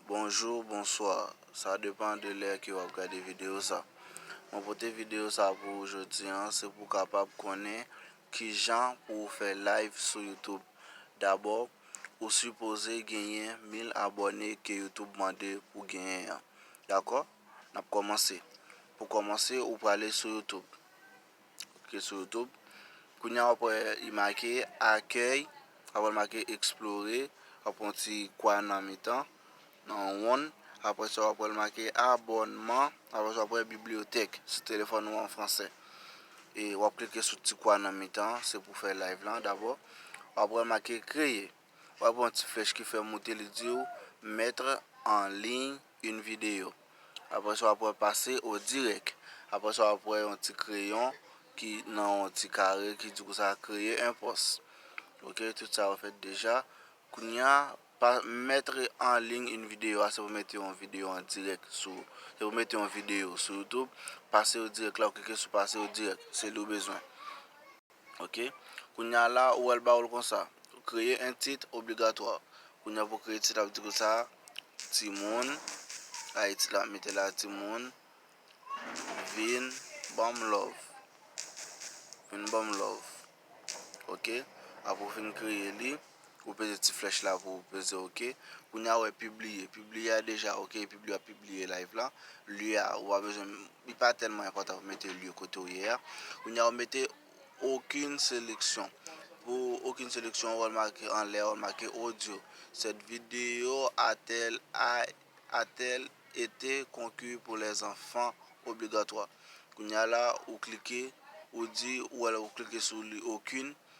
Bonjour bonsoir sa depan de lè ke wap gade video sa mwen pote video sa pou ou jodi an se pou kapab konnen kijan pou ou fè live sou youtube dabò ou sipoze genyen 1000 abòne ke youtube mande pou genyen an dakò nap kòmanse pou kòmanse ou prale sou youtube Klike sou YouTube. Kounye a wap wè li make akèy, ap wè li make eksplore, wap wè yon ti kwa nan mitan, nan yon wonn. Apre sa wap wè li make abònman, apre sa wap wè bibliyotèk sou telefòn ou an fransè. E wap klike sou ti kwa nan mitan an, se pou fè live lan dabò. Wap wè li make kreye, wap wè yon ti flèch ki fè monte li diw mettre en ligne Yn video. Aprè sa wap wè pase o dirèk. Aprè sa wap wè yon ti kreyon ki nan yon ti kare ki di konsa kreye yn pòs. Ok tout sa yo fèt deja. Kounya pa mètre an liy yn video a se pou mete yon video an dirèk sou se pou mete yon video sou youtube pase o dirèk la ou klike sou pase o dirèk se li ou bezwen. Ok. Kounye a la, ou wè l ba ou l konsa. Kreye 1 tit obligatwa. Kounye a pou w kreye tit la, w ap di kou sa, Timoun, a e tit la, mete la Timoun vin ban m love. Vin ban m love. Ok. Apre w fin kreye li. Ou peze ti flèch la pou ou peze ok. Kounya ou wè pibliye. Pibliye a deja ok epi li ap pibliye live la. Lye a ou pa bezwen li pa tèlman enpòtan pou mete lye kote ou ye a. Kounya ou mete okin seleksyon. Pou okin seleksyon ou wè l make anlè a ou make odyo. Sèt videyo a tèl a a tèl ete konki pou lèzanfan obligatwa. Kounya la ou klike ou di ou wè l ou klike sou li okin.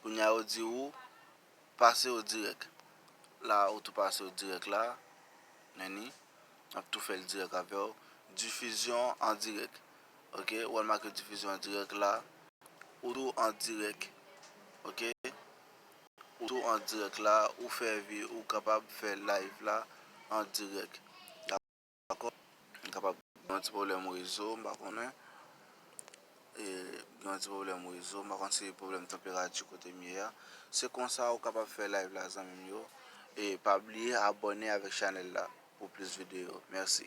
Kounya yo di ou pase yo dirèk la ou tou pase yo dirèk la Nèni ap tou fèl dirèk avèw difizyon an dirèk ok ou al make difizyon an dirèk la ou tou an dirèk ok ou tou an dirèk la ou fè vi ou kapab fè live la an dirèk. Dakò m kapab gen yon ti pwoblèm rezo m pa konnen e gen yon ti pwoblèm rezo m pa konn se pwoblèm tanperati kote m ye a se konsa ou kapab fè live la zanmi m yo e pa bliye abòne avèk chanèl la pou plis videyo mèsi.